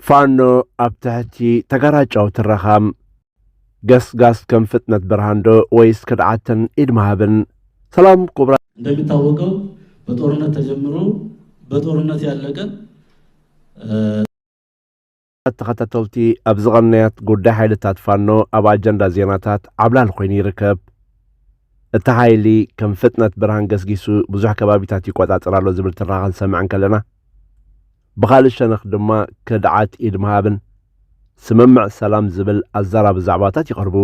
ፋኖ ኣብ ትሕቲ ተጋራጫዊ ትረኻ ገስጋስ ከም ፍጥነት ብርሃን ዶ ወይስ ክድዓትን ኢድ ምሃብን? ሰላም ኩቡራት። እንደሚታወቀው በጦርነት ተጀምሮ በጦርነት ያለቀ ተኸታተልቲ ኣብዚ ቐንያት ጉዳይ ሓይልታት ፋኖ ኣብ ኣጀንዳ ዜናታት ዓብላል ኮይኑ ይርከብ። እቲ ሓይሊ ከም ፍጥነት ብርሃን ገስጊሱ ብዙሕ ከባቢታት ይቆጻጸር ኣሎ ዝብል ትራኸ ክንሰምዕ እንከለና ብኻልእ ሸነኽ ድማ ከድዓት ኢድ ምሃብን ስምምዕ ሰላም ዝብል ኣዛራቢ ዛዕባታት ይቐርቡ።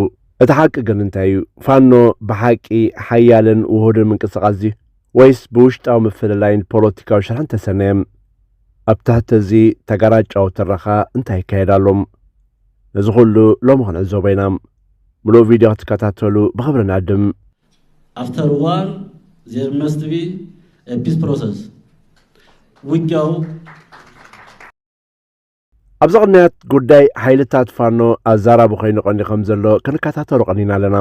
እቲ ሓቂ ግን እንታይ እዩ? ፋኖ ብሓቂ ሓያልን ውሁድን ምንቅስቓስ ድዩ? ወይስ ብውሽጣዊ ምፍልላይን ፖለቲካዊ ሽርሕን ተሰነየ? ኣብ ትሕቲ እዚ ተጋራጫዊ ትረኻ እንታይ ይካየድ ኣሎ? ነዚ ኩሉ ሎሚ ክንዕዘቦ ኢና። ምሉእ ቪድዮ ክትከታተሉ ብኽብሪ ንዕድም። After war, there must be a peace process. ውጊያው ኣብዚ ቅንያት ጉዳይ ሓይልታት ፋኖ ኣዛራቢ ኮይኑ ቀኒ ከም ዘሎ ክንከታተሎ ቀኒና ኣለና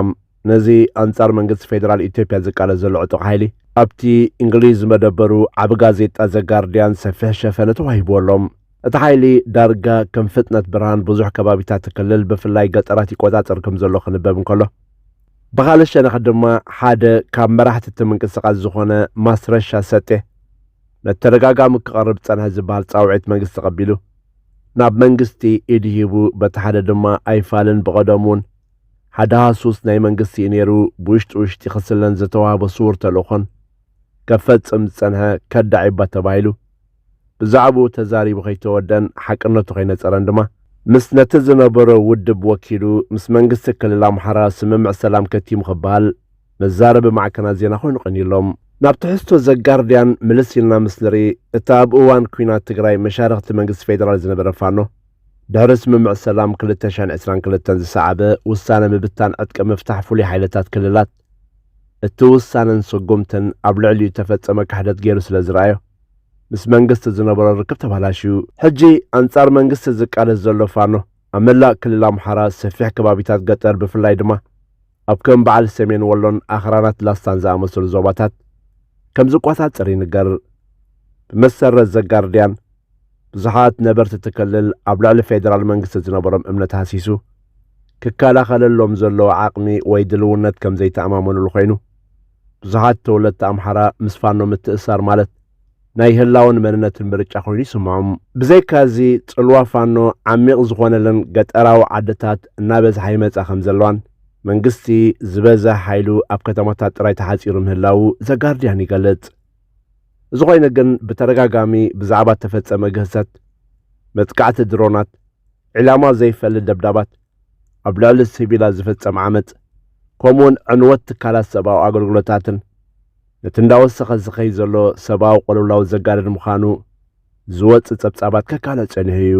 ነዚ ኣንጻር መንግስቲ ፌደራል ኢትዮጵያ ዝቃለስ ዘሎ ዕጡቕ ሓይሊ ኣብቲ እንግሊዝ መደበሩ ዓብ ጋዜጣ ዘጋርድያን ሰፊሕ ሸፈነ ተዋሂብዎ ኣሎ እቲ ሓይሊ ዳርጋ ከም ፍጥነት ብርሃን ብዙሕ ከባቢታት ክልል ብፍላይ ገጠራት ይቆጻጸር ከም ዘሎ ክንበብ እንከሎ ብኻልእ ሸነኽ ድማ ሓደ ካብ መራሕቲ እቲ ምንቅስቓስ ዝኾነ ማስረሻ ሰጤ መተደጋጋሚ ክቐርብ ጸንሐ ዝበሃል ጻውዒት መንግስቲ ተቐቢሉ ናብ መንግስቲ ኢድ ሂቡ በቲ ሓደ ድማ ኣይፋልን ብቐደሙን ሓደ ሃሱስ ናይ መንግስቲ እዩ ነይሩ ብውሽጢ ውሽጢ ክስለን ዝተዋህቦ ስውር ተልእኾን ከፈጽም ዝጸንሐ ከዳዕ እዩባ ተባሂሉ ብዛዕብኡ ተዛሪቡ ከይተወደኣን ሓቅነቱ ከይነጸረን ድማ፣ ምስ ነቲ ዝነበሮ ውድብ ወኪሉ ምስ መንግስቲ ክልል ኣምሓራ ስምምዕ ሰላም ከቲሙ ክበሃል መዛረቢ ማዕከናት ዜና ኮይኑ ቀንዩ ኣሎ። ናብ ትሕዝቶ ዘጋርድያን ምልስ ኢልና ምስ ንርኢ፣ እቲ ኣብ እዋን ኲናት ትግራይ መሻርኽቲ መንግስቲ ፌደራል ዝነበረ ፋኖ፣ ድሕሪ ስምምዕ ሰላም ክልተ ሽሕን ዕስራን ክልተን ዝሰዓበ ውሳነ ምብታን ዕጥቂ ምፍታሕ ፍሉይ ሓይልታት ክልላት፣ እቲ ውሳነን ስጉምትን ኣብ ልዕሊኡ እተፈጸመ ክሕደት ገይሩ ስለ ዝረኣዮ፣ ምስ መንግስቲ ዝነበሮ ርክብ ተባላሽዩ። ሕጂ ኣንጻር መንግስቲ ዝቃለስ ዘሎ ፋኖ፣ ኣብ መላእ ክልል ኣምሓራ ሰፊሕ ከባቢታት ገጠር ብፍላይ ድማ ኣብ ከም በዓል ሰሜን ወሎን ኣኽራናት ላስታን ዝኣመሰሉ ዞባታት ከም ዝቆጻጸር ይንገር። ብመሰረት ዘጋርድያን፣ ብዙሓት ነበርቲ እቲ ክልል ኣብ ልዕሊ ፌደራል መንግስቲ ዝነበሮም እምነት ሃሲሱ፣ ክከላኸለሎም ዘለዎ ዓቕሚ ወይ ድልውነት ከም ዘይተኣማመኑሉ ኮይኑ፣ ብዙሓት ተወለድቲ ኣምሓራ ምስ ፋኖ ምትእስሳር ማለት ናይ ህላወን መንነትን ምርጫ ኮይኑ ይስምዖም። ብዘይካ እዚ ጽልዋ ፋኖ ዓሚቕ ዝኾነለን ገጠራዊ ዓድታት እናበዝሓ ይመጻ ከም ዘለዋን፣ መንግስቲ ዝበዝሕ ሓይሉ ኣብ ከተማታት ጥራይ ተሓጺሩ ምህላዉ ዘጋርድያን ይገልጽ። እዚ ኾይኑ ግን ብተደጋጋሚ ብዛዕባ እተፈጸመ ግህሰት፣ መጥቃዕቲ ድሮናት፣ ዒላማ ዘይፈሊ ደብዳባት፣ ኣብ ልዕሊ ሲቪላት ዝፍጸም ዓመጽ፣ ከምኡ'ውን ዕንወት ትካላት ሰብኣዊ ኣገልግሎታትን ነቲ እንዳወሰኸ ዝኸይድ ዘሎ ሰብኣዊ ቅልውላው ዘጋድድ ምዃኑ ዝወጽእ ጸብጻባት ከካልዕ ጸኒሑ እዩ።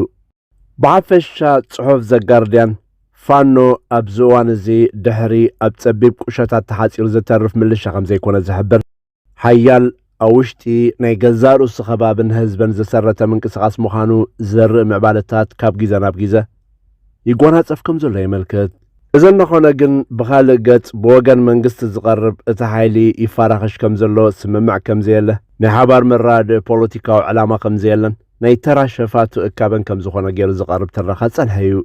ብሓፈሻ ጽሑፍ ዘጋርድያን፣ ፋኖ ኣብዚ እዋን እዚ ድሕሪ ኣብ ጸቢብ ቁሸታት ተሓጺሩ ዝተርፍ ምልሻ ከምዘይኮነ ዝሕብር፣ ሓያል ኣብ ውሽጢ ናይ ገዛእ ርእሱ ከባብን ህዝበን ዘሰረተ ምንቅስቓስ ምዃኑ ዘርኢ ምዕባለታት ካብ ጊዘ ናብ ጊዘ ይጓናጸፍ ከም ዘሎ የመልክት። እዚ እናኾነ ግን ብኻልእ ገጽ ብወገን መንግስቲ ዝቐርብ እቲ ሓይሊ ይፋራኸሽ ከም ዘሎ ስምምዕ ከም ዘየለ፣ ናይ ሓባር መረዳድኢ ፖለቲካዊ ዕላማ ከም ዘየለን ናይ ተራ ሸፋቱ እካበን ከም ዝኾነ ገይሩ ዝቐርብ ትረኻ ዝጸንሐ እዩ።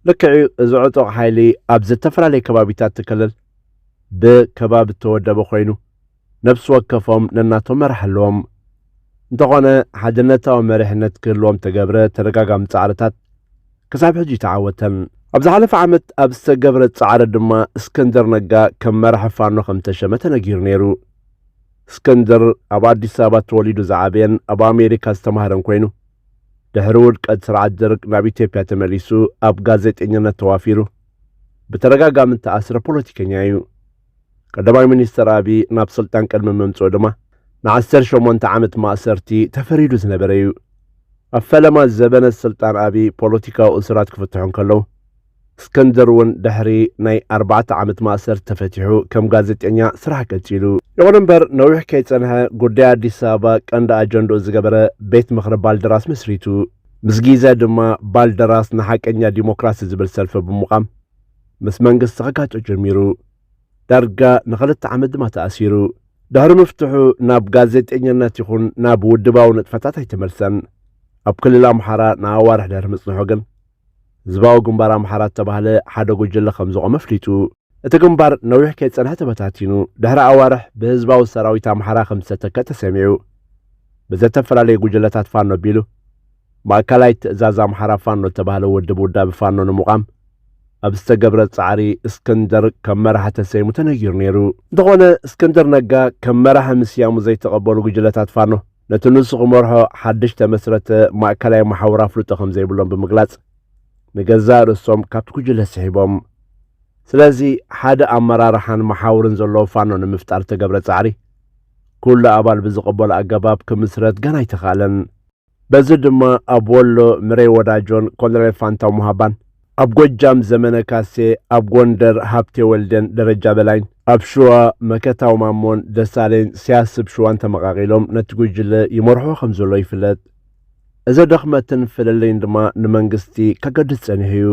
ልክዕ'ዩ እዚ ዕጡቕ ሓይሊ ኣብ ዝተፈላለየ ከባቢታት እቲ ክልል፣ ብከባቢ እተወደበ ዀይኑ፣ ነፍሲ ወከፎም ነናቶም መራሒ ኣለዎም። እንተዀነ፣ ሓድነታዊ መሪሕነት ክህልዎም እተገብረ ተደጋጋሚ ጻዕርታት ክሳብ ሕጂ ኣይተዓወተን። ኣብ ዝሓለፈ ዓመት ኣብ ዝተገብረ ጻዕሪ ድማ እስክንድር ነጋ ከም መራሒ ፋኖ ከም እተሸመ ተነጊሩ ነይሩ። እስክንድር፣ ኣብ ኣዲስ ኣበባ ተወሊዱ ዝዓበየን ኣብ ኣሜሪካ ዝተማህረን ኰይኑ፣ ድሕሪ ውድቀት ስርዓት ደርግ ናብ ኢትዮጵያ ተመሊሱ ኣብ ጋዜጠኝነት ተዋፊሩ። ብተደጋጋሚ እተኣስረ ፖለቲከኛ እዩ። ቀዳማይ ሚኒስተር ኣብይ ናብ ስልጣን ቅድሚ ምምጽኡ ድማ ንዓሰርተ ሸሞንተ ዓመት ማእሰርቲ ተፈሪዱ ዝነበረ እዩ። ኣብ ፈለማ ዘበነ ስልጣን ኣብይ ፖለቲካዊ እሱራት ክፍትሑ እንከለዉ፣ እስክንድር እውን ድሕሪ ናይ ኣርባዕተ ዓመት ማእሰርቲ ተፈቲሑ ከም ጋዜጠኛ ስራሕ ቀጺሉ። ይኹን እምበር ነዊሕ ከይጸንሐ ጉዳይ ኣዲስ ኣበባ ቀንዲ ኣጀንድኡ ዝገበረ ቤት ምኽሪ ባልደራስ መስሪቱ። ምስ ግዜ ድማ ባልደራስ ንሓቀኛ ዲሞክራሲ ዝብል ሰልፊ ብምቛም ምስ መንግስቲ ክጋጮ ጀሚሩ። ዳርጋ ንኽልተ ዓመት ድማ ተኣሲሩ። ድሕሪ ምፍትሑ ናብ ጋዜጤኛነት ይኹን ናብ ውድባዊ ንጥፈታት ኣይተመልሰን። ኣብ ክልል ኣምሓራ ንኣዋርሕ ድሕሪ ምጽንሑ ግን ህዝባዊ ግንባር ኣምሓራ እተባህለ ሓደ ጉጅለ ከም ዝቖመ ኣፍሊጡ። እቲ ግንባር ነዊሕ ከይጸንሐ ተበታቲኑ ድሕሪ ኣዋርሕ ብህዝባዊ ሰራዊት ኣምሓራ ከም ዝተተከ ተሰሚዑ። ብዘተፈላለዩ ጉጅለታት ፋኖ ኣቢሉ ማእከላይ ትእዛዝ ኣምሓራ ፋኖ እተባህለ ውድብ ውዳበ ፋኖ ንምቛም ኣብ ዝተገብረ ጻዕሪ እስክንድር ከም መራሒ ተሰይሙ ተነጊሩ ነይሩ። እንተኾነ እስክንድር ነጋ ከም መራሒ ምስያሙ ዘይተቐበሉ ጉጅለታት ፋኖ ነቲ ንሱ ክመርሖ ሓድሽ ተመስረተ ማእከላይ መሓውር ኣፍልጦ ከም ዘይብሎም ብምግላጽ ንገዛእ ርእሶም ካብቲ ጉጅለ ስሒቦም። ስለዚ ሓደ ኣመራርሓን መሓውርን ዘለዎ ፋኖ ንምፍጣር ዝተገብረ ጻዕሪ፣ ኩሉ ኣባል ብዝቕበሎ ኣገባብ ክምስረት ገና ኣይተኻእለን። በዚ ድማ ኣብ ወሎ ምሬ ወዳጆን ኮሎኔል ፋንታው ሙሃባን፣ ኣብ ጎጃም ዘመነ ካሴ፣ ኣብ ጎንደር ሃብቴ ወልዴን ደረጃ በላይን፣ ኣብ ሽዋ መከታው ማሞን ደሳሌን ሲያስብ ሽዋን ተመቓቒሎም ነቲ ጉጅለ ይመርሕዎ ከምዘለዉ ይፍለጥ። እዚ ድኽመትን ፍልልይን ድማ ንመንግስቲ ከገድድ ጸኒሑ እዩ።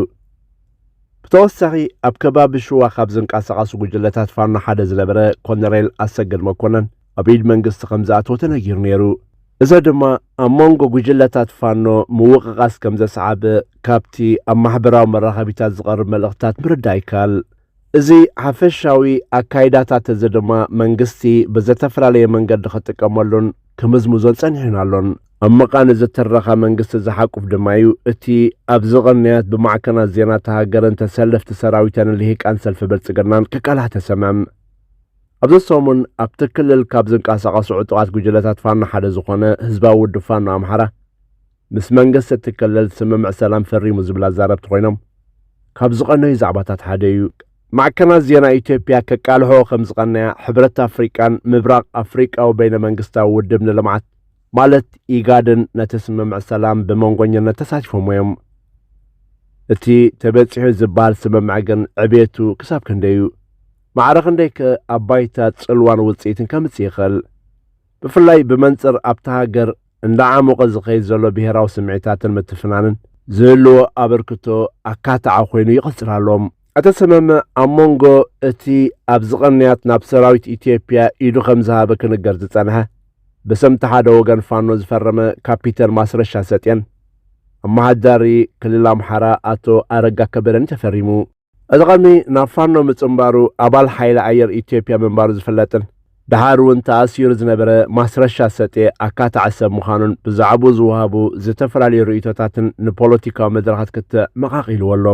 ብተወሳኺ ኣብ ከባቢ ሽዋ ካብ ዝንቀሳቐሱ ጉጅለታት ፋኖ ሓደ ዝነበረ ኮነሬል ኣሰግድ መኮነን ኣብ ኢድ መንግስቲ ከም ዝኣተወ ተነጊሩ ነይሩ። እዚ ድማ ኣብ መንጎ ጉጅለታት ፋኖ ምውቕቓስ ከም ዘስዓበ ካብቲ ኣብ ማሕበራዊ መራኸቢታት ዝቐርብ መልእኽትታት ምርዳእ ይከኣል። እዚ ሓፈሻዊ ኣካይዳታት እዚ ድማ መንግስቲ ብዘተፈላለየ መንገዲ ክጥቀመሉን ክምዝምዞን ጸኒሑን ኣሎን። ኣብ ምቛን እዚ ትረኻ መንግስቲ ዝሓቁፍ ድማ እዩ እቲ ኣብዚ ቅንያት ብማዕከናት ዜና እታ ሃገርን ተሰለፍቲ ሰራዊታንን ልሂቃን ሰልፊ ብልጽግናን ክቃላሕ ተሰምዕም። ኣብዚ ሰሙን ኣብቲ ክልል ካብ ዝንቀሳቐሱ ዕጡቓት ጉጅለታት ፋኖ ሓደ ዝኾነ ህዝባዊ ውድብ ፋኖ ኣምሓራ፣ ምስ መንግስቲ እቲ ክልል ስምምዕ ሰላም ፈሪሙ ዝብል ኣዛረብቲ ኮይኖም ካብ ዝቐነዩ ዛዕባታት ሓደ እዩ። ማዕከናት ዜና ኢትዮጵያ ከቃልሕኦ ከም ዝቐነያ ሕብረት ኣፍሪቃን ምብራቕ ኣፍሪቃዊ በይነ መንግስታዊ ውድብ ንልምዓት ማለት ኢጋድን ነቲ ስምምዕ ሰላም ብመንጎኝነት ተሳቲፎምዎ እዮም። እቲ ተበጺሑ ዝበሃል ስምምዕ ግን ዕቤቱ ክሳብ ክንደይ እዩ? ማዕረ ክንደይ ከ ኣብ ባይታ ጽልዋን ውጽኢትን ከምጽእ ይኽእል? ብፍላይ ብመንጽር ኣብታ ሃገር እንዳዓሞቐ ዝኸይድ ዘሎ ብሄራዊ ስምዒታትን ምትፍናንን ዝህልዎ ኣበርክቶ ኣካታዒ ኮይኑ ይቕጽል ኣሎ። ኣቶ ሰመመ ኣብ ሞንጎ እቲ ኣብዚ ቕንያት ናብ ሰራዊት ኢትዮጵያ ኢዱ ከም ዝሃበ ክንገር ዝጸንሐ ብስም ተሓደ ወገን ፋኖ ዝፈረመ ካፒተን ማስረሻ ሰጤን ኣማሓዳሪ ክልል ኣምሓራ ኣቶ ኣረጋ ከበደን ተፈሪሙ እዚ ቐርኒ ናብ ፋኖ ምጽንባሩ ኣባል ሓይሊ ኣየር ኢትዮጵያ ምንባሩ ዝፍለጥን ደሓር እውን ተኣሲሩ ዝነበረ ማስረሻ ሰጤ ኣካታዒ ሰብ ምዃኑን ብዛዕብኡ ዝወሃቡ ዝተፈላለዩ ርእይቶታትን ንፖለቲካዊ መድረኻት ክትዕ መቓቒልዎ ኣሎ።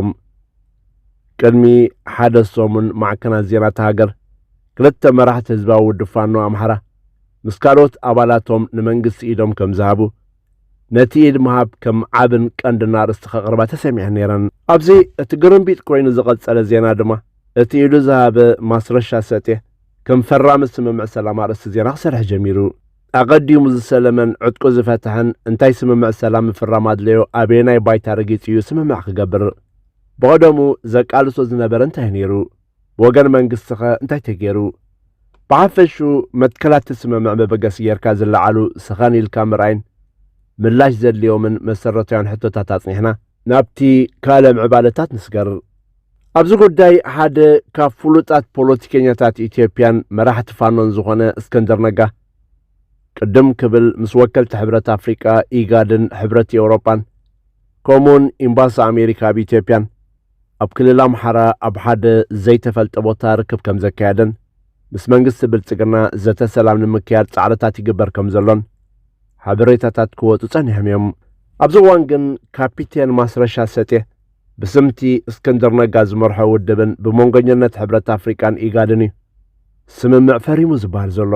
ቅድሚ ሓደ ሰሙን ማዕከናት ዜና እታ ሃገር ክልተ መራሕቲ ህዝባዊ ውድብ ፋኖ ኣምሓራ ምስ ካልኦት ኣባላቶም ንመንግስቲ ኢዶም ከምዝሃቡ ነቲ ኢድ ምሃብ ከም ዓብን ቀንድን ኣርእስቲ ከቕርባ ተሰሚዐን ነይረን። ኣብዚ እቲ ግርምቢጥ ኮይኑ ዝቐጸለ ዜና ድማ፣ እቲ ኢዱ ዝሃበ ማስረሻ ሰጤ፣ ከም ፈራሚ ስምምዕ ሰላም ኣርእስቲ ዜና ክሰርሕ ጀሚሩ። ኣቐዲሙ ዝሰለመን ዕጥቁ ዝፈትሐን እንታይ ስምምዕ ሰላም ምፍራም ኣድለዮ፣ ኣበየናይ ባይታ ረጊጹ እዩ ስምምዕ ክገብር ብቐደሙ ዘቃልሶ ዝነበረ እንታይ እዩ ነይሩ፣ ብወገን መንግስቲኸ እንታይ ተገይሩ? ብሓፈሽኡ መትከላትቲ ስምምዕ መበገሲ ገይርካ ዝለዓሉ ሰኸን ኢልካ ምርኣይን ምላሽ ዘድልዮምን መሰረታውያን ሕቶታት ኣጽኒሕና፣ ናብቲ ካልእ ምዕባለታት ንስገር። ኣብዚ ጉዳይ ሓደ ካብ ፍሉጣት ፖለቲከኛታት ኢትዮጵያን መራሕቲ ፋኖን ዝኾነ እስክንድር ነጋ ቅድም ክብል ምስ ወከልቲ ሕብረት ኣፍሪቃ፣ ኢጋድን ሕብረት ኤውሮጳን ከምኡ'ውን ኢምባሲ ኣሜሪካ ኣብ ኢትዮጵያን ኣብ ክልል ኣምሓራ ኣብ ሓደ ዘይተፈልጠ ቦታ ርክብ ከም ዘካየደን ምስ መንግስቲ ብልጽግና ዘተ ሰላም ንምክያድ ጻዕርታት ይግበር ከም ዘሎን ሓበሬታታት ክወጹ ጸኒሖም እዮም። ኣብዚ እዋን ግን ካፒቴን ማስረሻ ሰጤ ብስም'ቲ እስክንድር ነጋ ዝመርሖ ውድብን ብመንጎኝነት ሕብረት ኣፍሪቃን ኢጋድን እዩ ስምምዕ ፈሪሙ ዝብሃል ዘሎ።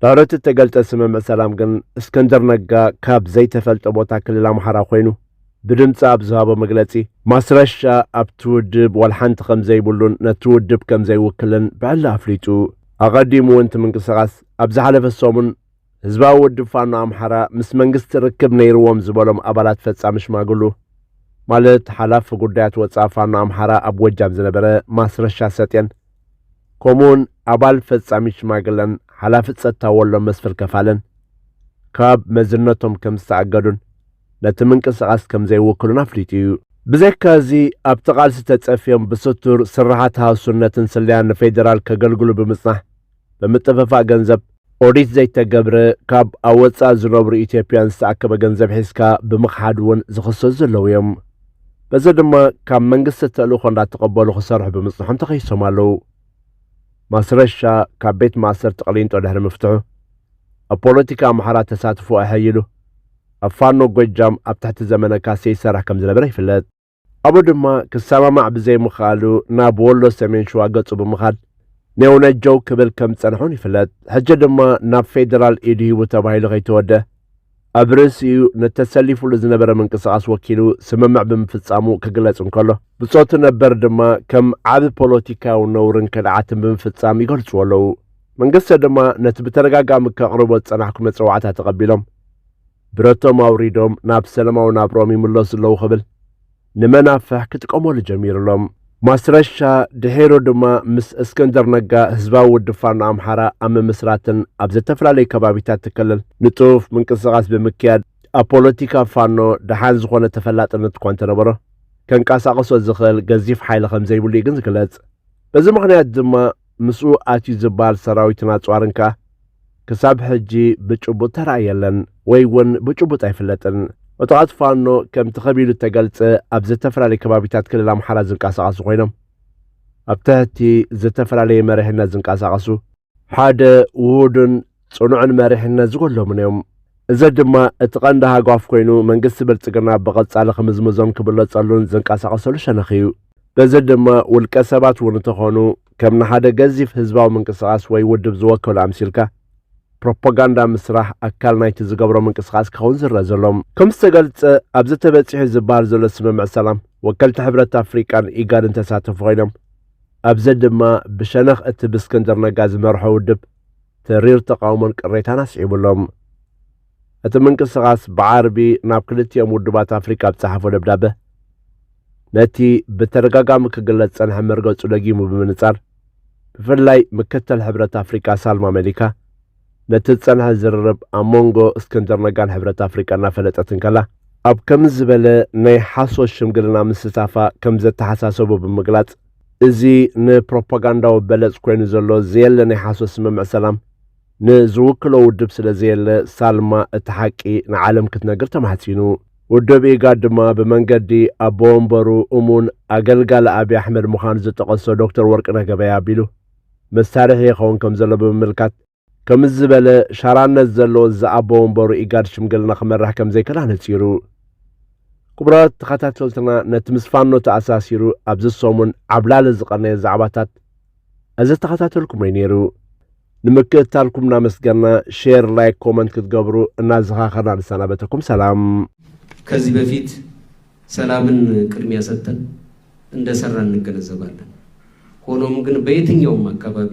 ባሮት እተገልጸ ስምምዕ ሰላም ግን እስክንድር ነጋ ካብ ዘይተፈልጠ ቦታ ክልል ኣምሓራ ኮይኑ ብድምጺ ኣብ ዝሃቦ መግለጺ ማስረሻ ኣብቲ ውድብ ዋላ ሓንቲ ከም ዘይብሉን ነቲ ውድብ ከም ዘይውክልን ብዕሊ ኣፍሊጡ። ኣቐዲሙ እውን እቲ ምንቅስቓስ ኣብ ዝሓለፈ ሰሙን ህዝባዊ ውድብ ፋኖ ኣምሓራ ምስ መንግስቲ ርክብ ነይርዎም ዝበሎም ኣባላት ፈጻሚ ሽማግሉ ማለት ሓላፊ ጉዳያት ወጻኢ ፋኖ ኣምሓራ ኣብ ጎጃም ዝነበረ ማስረሻ ሰጤን ከምኡውን ኣባል ፈጻሚ ሽማግለን ሓላፊ ጸጥታ ወሎ መስፍር ከፋለን ካብ መዝነቶም ከም ዝተኣገዱን ነቲ ምንቅስቓስ ከም ዘይውክሉን ኣፍሊጡ እዩ። ብዘይካ እዚ ኣብቲ ቃልሲ ተጸፍዮም ብስቱር ስርሓት ሃሱነትን ስለያን ንፌደራል ከገልግሉ ብምጽናሕ ብምጥፍፋእ ገንዘብ ኦዲት ዘይተገብረ ካብ ኣብ ወፃእ ዝነብሩ ኢትዮጵያን ዝተኣከበ ገንዘብ ሒዝካ ብምኽሓድ እውን ዝኽሰሱ ዘለዉ እዮም። በዚ ድማ ካብ መንግስቲ ተልእኾ እንዳተቐበሉ ክሰርሑ ብምፅንሖም ተኸሲሶም ኣለዉ። ማስረሻ ካብ ቤት ማእሰርቲ ቅሊንጦ ድሕሪ ምፍትሑ ኣብ ፖለቲካ ኣምሓራ ተሳትፎ ኣሐይሉ ኣብ ፋኖ ጎጃም ኣብ ትሕቲ ዘመነ ካሴ ይሰርሕ ከምዝነበረ ይፍለጥ። ኣብኡ ድማ ክሰማማዕ ብዘይምኽኣሉ ናብ ወሎ ሰሜን ሽዋ ገጹ ብምኻድ ኔውነጀው ክብል ከም ዝጸንሐውን ይፍለጥ። ሕጂ ድማ ናብ ፌደራል ኢድ ሂቡ ተባሂሉ ከይተወድእ ኣብ ርእሲኡ ንተሰሊፉሉ ዝነበረ ምንቅስቓስ ወኪሉ ስምምዕ ብምፍጻሙ ክግለጽ እንከሎ፣ ብጾቱ ነበር ድማ ከም ዓቢ ፖለቲካዊ ነውርን ከድዓትን ብምፍጻም ይገልጽዎ ኣለዉ። መንግስቲ ድማ ነቲ ብተደጋጋሚ ከቕርቦ ዝጸናሕኩ መጸዋዕታ ተቐቢሎም፣ ብረቶም ኣውሪዶም ናብ ሰለማዊ ናብርኦም ይምለሱ ኣለዉ ክብል ንመናፍሕ ክጥቀመሉ ጀሚሩ ኣሎ። ማስረሻ ድሒሩ ድማ ምስ እስክንድር ነጋ ህዝባዊ ውድብ ፋኖ ኣምሓራ ኣብ ምምስራትን ኣብ ዘተፈላለዩ ከባቢታት እቲ ክልል ንጡፍ ምንቅስቓስ ብምክያድ ኣብ ፖለቲካ ፋኖ ደሓን ዝኾነ ተፈላጥነት እኳ እንተነበሮ ከንቀሳቕሶ ዝኽእል ገዚፍ ሓይሊ ከምዘይብሉ እዩ ግን ዝግለጽ። በዚ ምኽንያት ድማ ምስኡ ኣትዩ ዝባል ሰራዊትን ኣጽዋርን ከኣ ክሳብ ሕጂ ብጭቡጥ ተራእየ የለን ወይ ውን ብጭቡጥ ኣይፍለጥን። ዕጡቓት ፋኖ ከምቲ ከቢሉ እተገልጸ ኣብ ዝተፈላለየ ከባቢታት ክልል ኣምሓራ ዝንቀሳቐሱ ኮይኖም ኣብ ትሕቲ ዝተፈላለየ መሪሕነት ዝንቀሳቐሱ፣ ሓደ ውሁድን ጽኑዕን መሪሕነት ዝጎድሎምን እዮም። እዚ ድማ እቲ ቀንዲ ሃጓፍ ኮይኑ መንግስቲ ብልጽግና ብቐጻሊ ክምዝምዞን ክብለጸሉን ዝንቀሳቐሰሉ ሸነኽ እዩ። በዚ ድማ ውልቀ ሰባት እውን እንተኾኑ ከም ንሓደ ገዚፍ ህዝባዊ ምንቅስቓስ ወይ ውድብ ዝወከሉ ኣምሲልካ ፕሮፓጋንዳ ምስራሕ ኣካል ናይቲ ዝገብሮ ምንቅስቓስ ክኸውን ዝረእ ዘሎ። ከም ዝተገልጸ ኣብዚ ተበጺሑ ዝብሃል ዘሎ ስምምዕ ሰላም ወከልቲ ሕብረት ኣፍሪቃን ኢጋድን ተሳተፉ ኮይኖም ኣብዚ ድማ ብሸነኽ እቲ ብእስክንድር ነጋ ዝመርሖ ውድብ ተሪር ተቓውሞን ቅሬታን ኣስዒቡ ኣሎ። እቲ ምንቅስቓስ ብዓርቢ ናብ ክልቲኦም ውድባት ኣፍሪቃ ኣብ ዝጸሓፎ ደብዳበ፣ ነቲ ብተደጋጋሚ ክግለጽ ዝጸንሐ መርገጹ ደጊሙ ብምንጻር፣ ብፍላይ ምክትል ሕብረት ኣፍሪቃ ሳልማ መሊካ፣ ነቲ ዝጸንሐ ዝርርብ ኣብ ሞንጎ እስክንድር ነጋን ሕብረት ኣፍሪቃ እናፈለጠት እንከላ፣ ኣብ ከምዚ ዝበለ ናይ ሓሶት ሽምግልና ምስታፋ ከምዘተሓሳሰቦ ብምግላጽ፣ እዚ ንፕሮፓጋንዳዊ በለጽ ኮይኑ ዘሎ ዘየለ ናይ ሓሶት ስምምዕ ሰላም፣ ንዝውክሎ ውድብ ስለ ዘየለ፣ ሳልማ እቲ ሓቂ ንዓለም ክትነግር ተማሕጺኑ። ውድብ ኢጋድ ድማ ብመንገዲ ኣቦ ወንበሩ እሙን ኣገልጋሊ ኣብይ ኣሕመድ ምዃኑ ዝጠቐሶ ዶክተር ወርቅነህ ገበያ ኣቢሉ፣ መሳርሒ ይኸውን ከም ዘሎ ብምምልካት፣ ከምዚ ዝበለ ሻራነት ዘለዎ ዝኣቦ ወንበሩ ኢጋድ ሽምግልና ክመርሕ ከምዘይክእል ኣነጺሩ። ክቡራት ተኸታተልትና ነቲ ምስ ፋኖ ተኣሳሲሩ ኣብዚ ሰሙን ዓብላሊ ዝቐነየ ዛዕባታት ኣዘተኸታተልኩሞ'ዩ ነይሩ። ንምክእታልኩም እናመስገና ሼር ላይክ ኮመንት ክትገብሩ እናዘኻኸርና ንሰናበተኩም ሰላም። ከዚህ በፊት ሰላምን ቅድሚያ ሰጥተን እንደሰራን እንገነዘባለን። ሆኖም ግን በየትኛውም አካባቢ